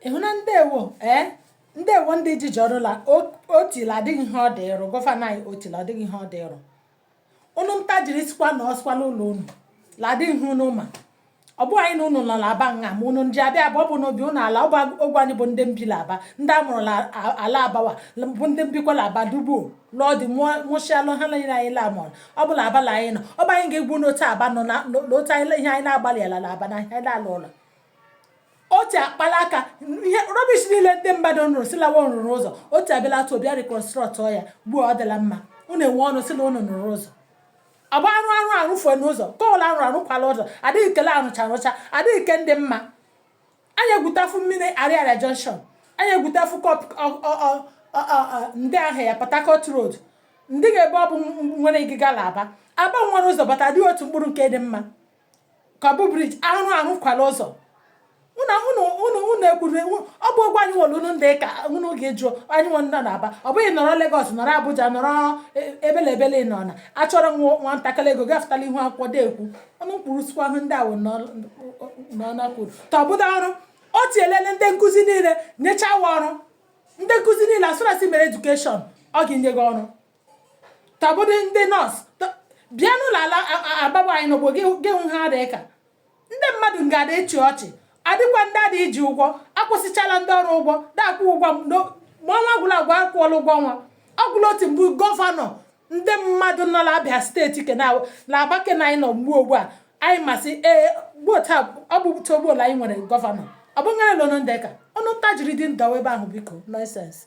ịhụ na ndewo ee eh? ndewo ndị ji jọrụla Otti la adịghị ihe ọ dị ịrụ gọvanọ anyị Otti la adịghị ihe ọ dị ịrụ unu nta jiri sikwa na o sikwa la ụlọ unu la adịghị ihe unu ma ọ bụ anyị na unu nọ na Aba nha ma unu ndị abịa abụọ bụ n'obi unu la ogwe anyị bụ ndị mbi la Aba ndị a mụrụ la ala Aba wa bụ ndị mbikwa la Aba du gbuo lụọ di mụchialụ ha niile anyị lamọn ọ bụ la Aba la anyị nọ ọ bụ anyị ga-agwa unu otu Aba nọ na n'otu anyị ihe anyị na-agbalị ala na Aba na ihe anyị na-alụ ụlọ Otti akpala aka ihe rubbish niile ndị mmadụ nrụrụ sị la wa nrụrụ ụzọ Otti abịala atụ bịa reconstruct ya gbuo ọ dịla mma unu enwe ọnụ sị na unu nrụrụ ụzọ ọ bụ arụ arụ arụfue n'ụzọ kọwụla arụ arụkwala ụzọ adịghị ke la arụcha arụcha adịghị ke ndị mma anyị egwutafu mmiri Ariaria junction anyị egwutafu ndị ahụ ya Port Harcourt road ndị ga ebe ọ bụ nwere ịgịga la Aba Aba nwere ụzọ bata adịghị otu mkpụrụ nke dị mma ka ọ bụ briji arụrụ arụkwala ụzọ unu ekwuru ọ bụ ụgwọ anyị nwere unu ndị ka unu ga-eju anyị nwe ndị n'Aba ọ bụghị nọrọ Lagos nọrọ Abuja nọrọ e, ebele ebele nọ na achọrọ nwa ntakịrị ego gafụtala ihu akwụkwọ deekwu ọnụ kwuru sikwa ahụ ndị awụ n'ọna kwuru ta ọ bụda ọrụ Otti ewele ndị nkụzi niile nyechaa wa ọrụ ndị nkụzi niile as far as ị mere education ọ ga-enye gị ọrụ ta ọ bụdị ndị nọọsụ tọ- bịa n'ụlọ ala a- a- Aba ebe anyị nọ gbuo gị gị hụ ha dị ka ndị mmadụ ga-ada achị ọchị Adịkwa ndị a dị iji ụgwọ, akwụsịchala ndị ọrụ ụgwọ, na-akwụ ụgwọ m n'o- ma ọnwa agwụla agwụ akwụọla ụgwọ ọnwa. Ọ bụ la Otti mbụ gọvanọ ndị mmadụ nọ n'Abịa steeti ke na n'Aba ke na anyị nọ mgbe ugbu a anyị masị ee gbuo taa ọ bụ to gbuo la anyị nwere gọvanọ ọ bụ nwere la unu ndị ka unu nta jiri dị ndawa ebe ahụ biko nonsense